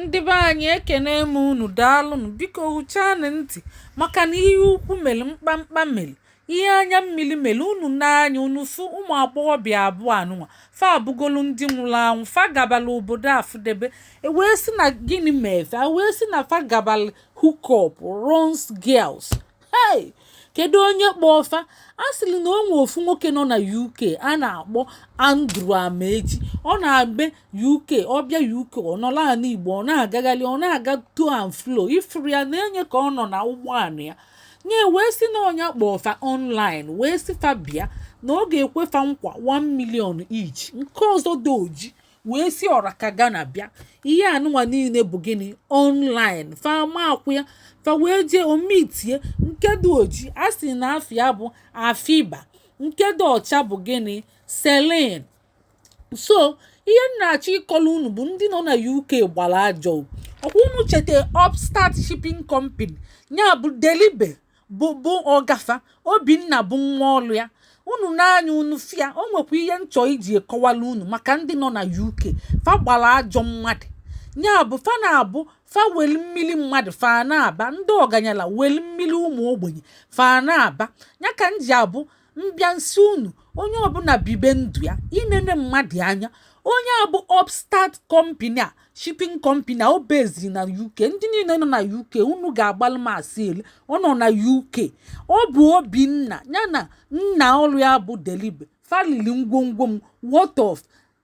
Ndị be anyị ekene m unu daalụnụ biko hụchanụ ntị maka na ihe ukwu mere mkpamkpa mere ihe anya mmiri mere unu n'anya unu fụ ụmụ agbọghọbịa abụọ anụnwa fa abụgolu ndị nwụrụ anwụ fa gabala obodo afụdebe e wee sị na gịnị me fa wee sị na fa gabala hookup runs girls hei kedu onye kpọọ fa a sịrị na o nwe ofu nwoke nọ na uk a na-akpọ andrew amaechi ọ na-ebi uk ọ bịa uk ọ nọla ala igbo ọ na-agagharị ọ na-aga to and fro ifuru ya na-enye ka ọ nọ na ụgbọala ya nye wee sị na ọ nya kpọọ fa online wee sị fa bịa na ọ ga-ekwe fa nkwa 1 million each nke ọzọ dị oji wee si ọra ka Ghana bịa ihe anụnwa niile bụ gịnị online fa amakwa ya fa wee jee meet ya nke dị oji a sị na afa ya bụ Afiba nke dị ọcha bụ gịnị Celine so ihe m na-achọ ịkọla unu bụ ndị nọ na UK gbara ajọ ọkwa unu cheta Upstart Shipping Company ya bụ Delibe bụ ọga fa obinna bụ nwa ọlụ ya unu n'anya unu fụ ya o nwekwa ihe m chọ iji kọwala unu maka ndị nọ na uk fa gbara ajọ mmadụ ya bụ fa na-abụ fa weli mmiri mmadụ fa na-aba ndị ọganyala weli mmiri ụmụ ogbenye fa na-aba ya ka m ji abụ m bịa m sị unu onye ọbụla bibe ndụ ya ị nene mmadụ anya onye a bụ upstart company a shipping company a o beziri na uk ndị niile nọ na uk unu ga-agbalụ m asị ele ọ nọ na uk ọ bụ obinna ya na nna ọrụ ya bụ delibe fa lili ngwongwo m worth of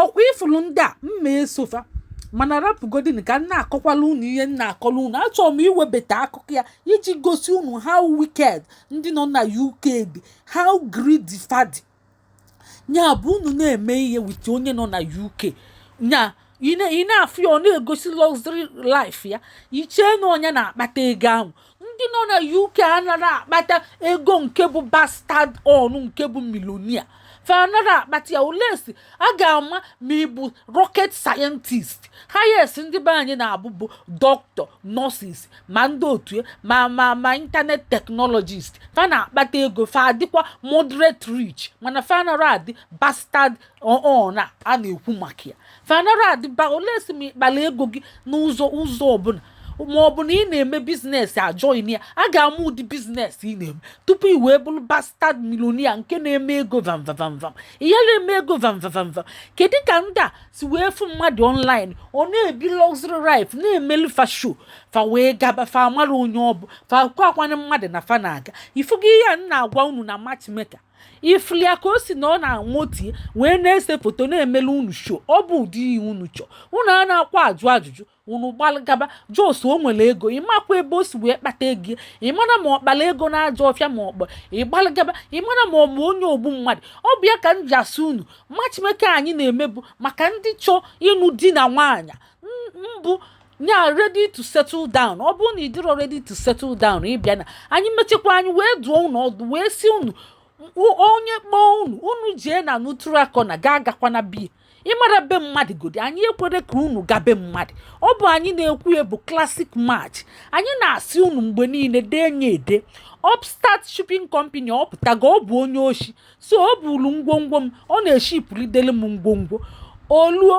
ọkwa ifuru ndị a m ma eso fa mana rapụgodin ka m na-akọkwala unu ihe m na-akọla unu achọrọ m iwebata akụkọ ya iji gosi unu how wicked ndị nọ na UK dị how greedy fa dị nya bụ unu na-eme ihe with onye nọ na UK nya ị na-afụ ya ọ na-egosi luxury life ya i chee na onye na-akpata ego ahụ ndị nọ na uk anaghị akpata ego nke bụ bastard own nke bụ millionaire fa anaghị akpata ya unless a ga-ama ma ị bụ rocket scientist highest ndị be anyị na-abụ bụ doctor nurses ma ndị otu e, ma ma ma internet technologist fa na-akpata ego fa adịkwa moderate rich mana fa anaghị adị bastard own a a na-ekwu maka ya fa anara adị ba unless ma ị kpala ego gị n'ụzọ ụzọ ọbụla ma ọ bụ na ị na-eme business ajoin ya a ga-ama ụdị business ị na-eme tupu i wee bụrụ bastard millionaire nke na-eme ego vamvavamvam ihe na-eme ego vamvavamvam kedu ka ndị a si wee fụ mmadụ online ọ na-ebi luxury life na-emelu fa show fa wee gaba fa amara onye ọ bụ fa kwa akwana mmadụ na fa na-aga ifugo ihe a m na-agwa unu na matchmaker ị fụlị ya ka o si na ọ na-amụti wee na-ese foto na-emele unu show ọ bụ ụdị ihe unu chọ unu anakwa ajụ ajụjụ unu gbalagaba just o nwere ego ị makwa ebe o si wee kpata ego ị mara ma ọ kpara ego n'ajọ ọfịa ma ọ kpọ ị gbalagaba ị mara ma ọ bụ onye ogbu mmadụ ọ bụ ya ka m ji asị unu matchmaker anyị na-eme bụ maka ndị chọọ ịnụ di na nwaanyị mbụ ya ready to settle down ọ bụrụ na ị dịrọ ready to settle down ị bịa na anyị mechekwa anyị wee duo unu ọdụ wee sị unu onye kpọọ unu unu jee na neutral corner ga agakwana be ị mara be mmadụ godi anyị ekwere ka unu ga be mmadụ ọ bụ anyị na-ekwu ya bụ classic match anyị na-asị unu mgbe niile dee nye ede upstart shipping company ọ pụtago ọ bụ onye oshi so o bulu ngwongwo m ọ na-eshipụ lidelu m ngwongwo o luo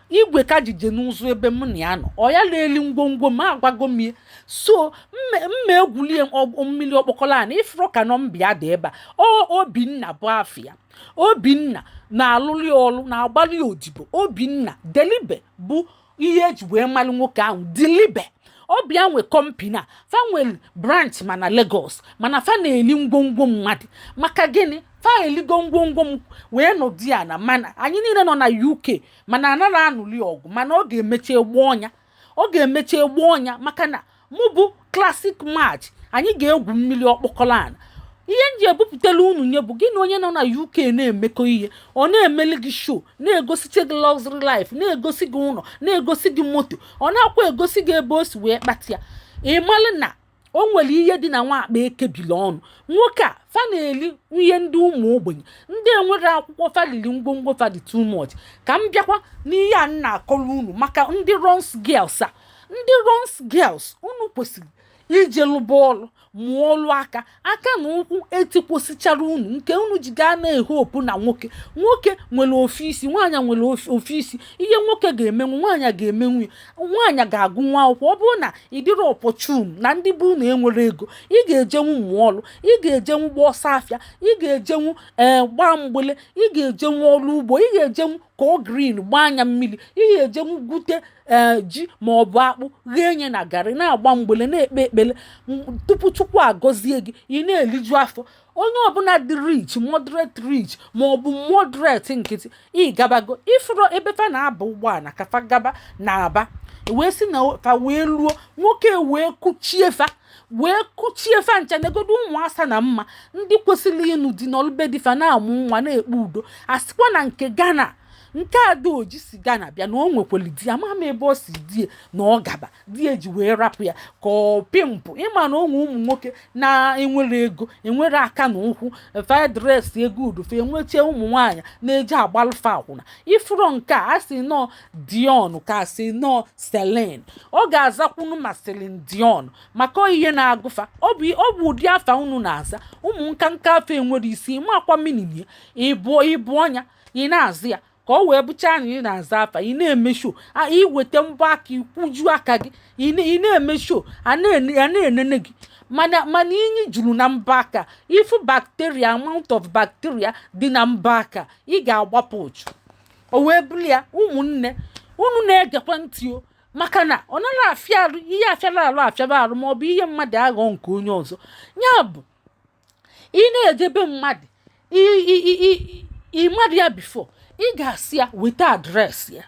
igwe ka jije n'ụzọ ebe m na ya nọ ọ ya na-eli ngwongwo m agwago m ya so m ma egwulie mmiri ọkpọkọrọ ana ị fụrụ ka nọmba ya dị ebe a obinna bụ afa ya obinna na-alụli ọlụ na-agbalị ya odibo obinna dilibe bụ ihe e ji wee malụ nwoke ahụ dilibe ọ bụ ya nwe company a fa nwere branch ma na Lagos mana fa na-eli ngwongwo mmadụ maka gịnị fa eligo ngwongwo m wee nọdụ ya na mana anyị niile nọ na UK mana a naghị anụli ọgụ mana ọ ga-emechi egbu ọnya ọ ga-emechi egbu ọnya maka na mụ bụ classic match anyị ga-egwu mmiri ọkpọkọrọ ala ihe m ji ebupụtala unu nya bụ gị na onye nọ na UK na-emekọ ihe ọ na-emeli gị show na-egosiche gị luxury life na-egosi gị ụlọ na-egosi gị moto ọ nakwa egosi gị ebe o si wee kpata ya ị malụ na o nwere ihe dị na nwa akpa e kebili ọnụ nwoke a fa na-eli ihe ndị ụmụ ogbenye ndị enwere akwụkwọ fa lili ngwongwo fa dị too much ka m bịakwa n'ihe a m na-akọrọ unu maka ndị runs girls a ndị runs girls unu kwesịrị ije lụba ọlụ mụọ ọlụ aka aka na ụkwụ etikwọsịchara unu nke unu ji gaa na-ehopu na nwoke nwoke nwere ofu isi nwaanyị nwere ofu isi ihe nwoke ga-emenwu nwaanyị ga-emenwu ya nwaanyị ga-agụnwu akwụkwọ ọ bụrụ na ị dịrọ opportune na ndị be unu enwere ego ị ga-ejenwu mụọ ọrụ ị ga-ejenwu gba ọsọ afịa ị ga-ejenwu ee eh, gbaa mgbele ị ga-ejenwu ọrụ ugbo ị ga-ejenwu kọọ green gbaa nya mmiri ị ga-ejenwu gwute ee eh, ji ma ọ bụ akpụ ghee nya na garị na-agba mgbele na-ekpe ekpere tupu chukwu agọzie gị ị na-eliju afọ onye ọbụla dị rich moderate rich ma ọ bụ moderate nkịtị ị gabago ị fụrụ ebe fa na-aba ụgbọala ka fa gaba na Aba wee sị na fa wee luo nwoke wee kuchie fa wee kuchie fa ncha negodo ụmụ asa na mma ndị kwesịrị ịnụ di nọlụ be di fa na-amụ nwa na-ekpe udo a sịkwa na nke Ghana nke dị oji si Ghana bịa na o nwekwere di ama m ebe ọ sị di e na ọ gaba di ya ji wee rapụ ya ka ọ pị mpụ ịma na o nwe ụmụ nwoke na-enwerọ ego enwerọ aka na ụkwụ fa dress ego udufe enwechie ụmụ nwaanyị na-eji agbalụ fa akwụna ifuru nke a sị na ọ dion nke a sị na ọ celine ọ ga-azakwunu ma celine dion maka ihe na-agụ fa ọ bụ ụdị afa unu na-aza ụmụ nkanka afa enwerọ isi ị makwa meaning ya ịbụ ọnya ị na-aza ya ka ọ wee bụcha na ị na-aza afa ị na-eme show i weta mbọ aka ikwuju aka gị ị na-eme show a na-enene gị mana inyi juru na mbọ aka ị fụ bacteria amount of bacteria dị na mbọ aka ị ga-agbapụ ụchụ o wee bụrụ ya ụmụnne unu na-egekwa ntị o maka na ọ naghị afịa arụ ihe afịara arụ ma ọ bụ ihe mmadụ aghọ nke onye ọzọ ya bụ ị na-eje be mmadụ ị madụ ya before ị ga-asị ya weta address ya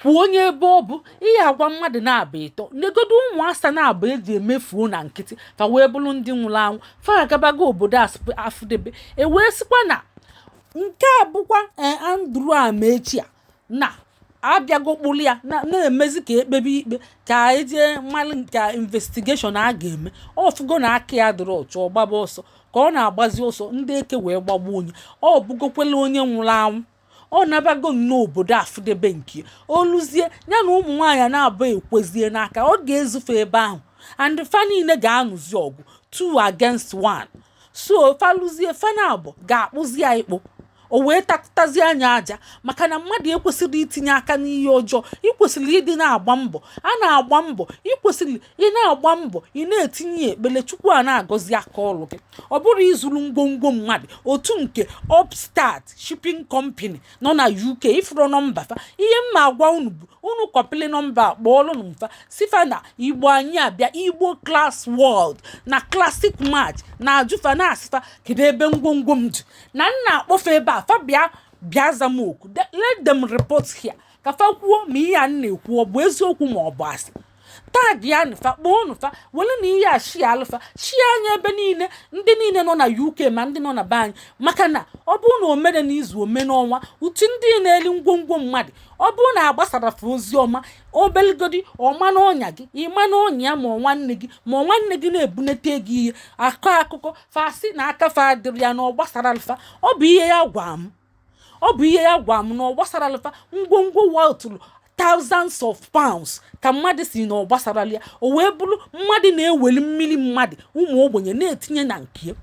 kwuo onye be ọ bụ ị ya-agwa mmadụ naabọ ịtọ negodu ụmụ asa naabọ eji emefuo na nkịtị ka wee bụrụ ndị nwụrụ anwụ fa agabago obodo afụdebe e wee sịkwa na nke a bụkwa eh, andrew amechi a na abịago kpụrụ ya na-emezi ka ekpebe ikpe ka e jee malụ ka investigation a ga-eme ọ fụgo na aka ya adịrọ ọcha ọ gbaba ọsọ ka ọ na-agbazi ọsọ ndị eke wee gbagbuo nya ọ bụgokwela onye nwụrụ anwụ ọ nabago n'obodo afụdebe nke ya. o luzie ya na ụmụ nwaanyị a naabọ ekwezie n'aka ọ ga-ezu fa ebe ahụ and fa niile ga-anụzi ọgụ two against one so fa luzie fa naabọ ga-akpụzi ya ịkpụ o wee takụtazi anya aja maka na mmadụ ekwesịrọ itinye aka n'ihe ọjọọ i kwesịrị ịdị na-agba mbọ a na-agba mbọ i kwesịrị ị na-agba mbọ ị na-etinye ekpele chukwu a na-agọzi aka ọrụ gị ọ bụrọ izuru ngwongwo mmadụ otu nke upstart shipping company nọ na uk ị fụrụ number fa ihe m na-agwa unu bụ unu kọpịlị number kpọọlụnụ m fa sị fa na igbo anyị abịa igbo class world na classic match na-ajụ fa na-asị fa kedu ebe ngwongwo m dị na m na-akpọ fa ebe a fa bịa za m oku let them report here ka fa kwuo ma ihe a na-ekwu ọ bụ eziokwu ma ọ bụ asị tagịanụ fa kpọọnụ fa welenụ ihe a shiaalụ fa shiaa nya ebe niile ndị niile nọ na uk ma ndị nọ na be anyị maka na ọ bụrụ na o mere n'izu o mee n'ọnwa utu ndị na-eli ngwongwo mmadụ ọ bụrụ na agbasarọ fa ozi ọma obeligodi ọ ma n'ọnya gị ị ma n'ọnya ma ọ nwanne gị ma ọ nwanne gị na-ebunete gị ihe akọ akụkọ fa sị na aka fa adịrọ ya na ọ gbasarọ fa ọ bụ ihe ya gwa m ọ bụ ihe ya gwa m na ọ gbasaralụ fa ngwongwo wọtụrụ thousands of pounds ka mmadụ si na ọ gbasara ya o wee bụrụ mmadụ na-eweli mmiri mmadụ ụmụ ogbenye na-etinye na nke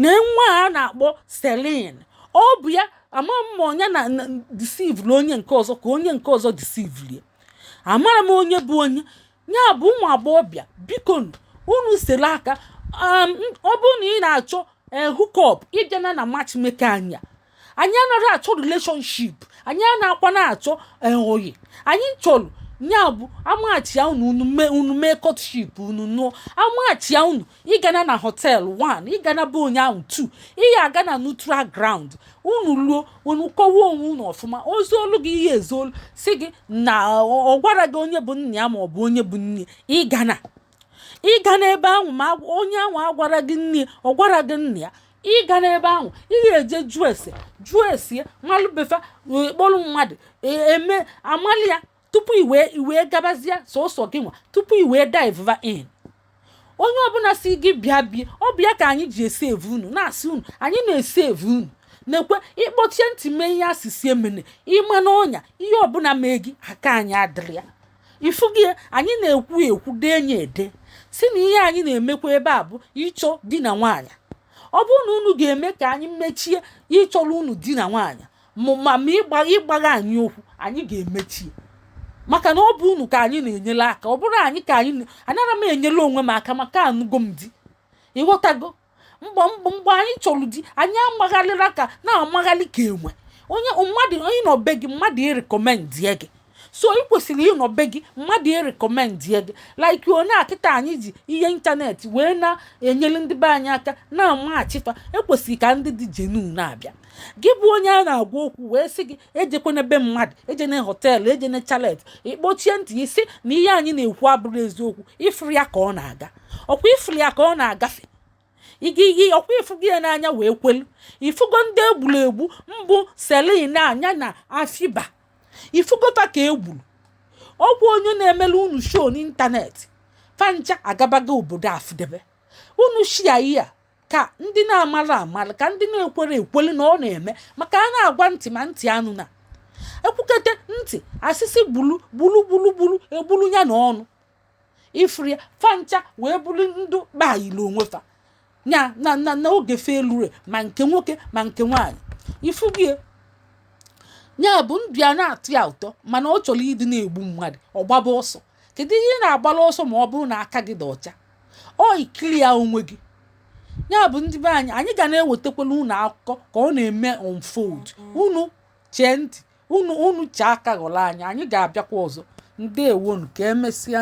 na nwa a na-akpọ Celine ọ bụ ya amarọ m onye na disivuru onye nke ọzọ ka onye nke ọzọ disivuru ya amarọ m onye bụ onye ya bụ ụmụ agbọghọbịa biko unu sere aka um, ọ bụrụ na ị na-achọ eh, hookup ị bịana na matchmaker anya anyị anarọ achọ relationship anyị na-akwa na-achọ eh, ọyị anyị chọrọ ya bụ a matchia unu unu mee unu mee courtship unu nụọ a matchia unu ị gana na hotel 1 ị gana be onye ahụ 2 ị ya-aga na neutral ground unu luo unu kọwa onwe unu ọfụma o zuolu gị ihe ezu olu si gị na ọ ọ gwarọ gị onye bụ nna ya ma ọ bụ onye bụ nne ị gana ị gana ebe ahụ ma agwa- onye ahụ agwarọ gị nne ya, ọ gwarọ gị nna ya ị gana ebe ahụ ị ga-eje jụọ ese jụọ ese ya malụ be fa kpọrọ mmadụ e- eme amali ya tupu i wee i wee gabazie sọsọ gị nwa tupu i wee dive in onye ọbụla sị gị bịa bịa ọ bụ ya ka anyị ji esave unu na-asị unu anyị na-esave unu na-ekwe ị kpọchie ntị mee ihe a sị sị emene ị ma n'ọnya ihe ọbụla mee gị aka anyị adịrọ ya ị fụgo anyị na-ekwu ekwu denye ede sị na ihe anyị na-emekwa ebe a bụ ịchọ di na nwaanyị ọ bụrụ na unu ga-eme ka anyị mechie ịchọrọ unu di na nwaanyị ma ma ịgba ịgbagha anyị okwu anyị ga-emechi ya. maka na ọ bụ unu ka anyị na-enyere aka ọ bụrọ anyị ka anyị na- anarọ m enyere onwe m aka maka anụgo m di ị ghọtago mgbe mgbe mgbe anyị chọrọ di anyị amagharịla ka na-amagharị ka enwe onye mmadụ onye nọ be gị mmadụ erecommendie gị so ị kwesịrị ịnọ be gị mmadụ erecommendie gị like onye a kịta anyị ji ihe internet wee na-enyere ndị be anyị aka na-amatchi fa ekwesịrị ka ndị dị genuine na-abịa gị bụ onye a na-agwa okwu wee sị gị ejekwana be mmadụ ejene hotel ejene chalet ị kpọchie ntị ị sị na ihe anyị na-ekwu abụrọ eziokwu ị fụrụ ya ka ọ na-aga ọkwa ị fụrụ ya ka ọ na-agafe igiyi ọkwa ị fụgo ya n'anya wee kwelu ị fụgo ndị egburu egbu mbụ Celine a ya na Afiba ị fụgo fa ka egburu ọgwụ onye na-emere unu show n'internet fa ncha agabago obodo afụdebe unu shia ihe a ka ndị na-amarọ mara ka ndị na-ekwerọ kwere na ọ na-eme maka a na-agwa ntị ma ntị anụna ekwukete ntị a sị sị gburu gburu gburu gburu egburu ya na ọnụ ị fụrụ ya fa ncha wee bụrụ ndụ kpaghịrị onwe fa ya na na na oge fe elure ma nke nwoke ma nke nwaanyị ifu gị ya bụ ndụ ya na-atọ ya ụtọ mana ọ chọrọ ịdị na-egbu mmadụ ọ gbaba ọsọ kedu ihe ị na-agbara ọsọ ma ọ bụrụ na aka gị dị ọcha ọ ị clear onwe gị ya bụ ndị be anyị anyị ga na-ewetakwala unu akụkọ ka ọ na-eme unfold unu chee ntị unu unu chee aka ghọrọ anyị anyị ga-abịakwa ọzọ ndewonu ka emesịa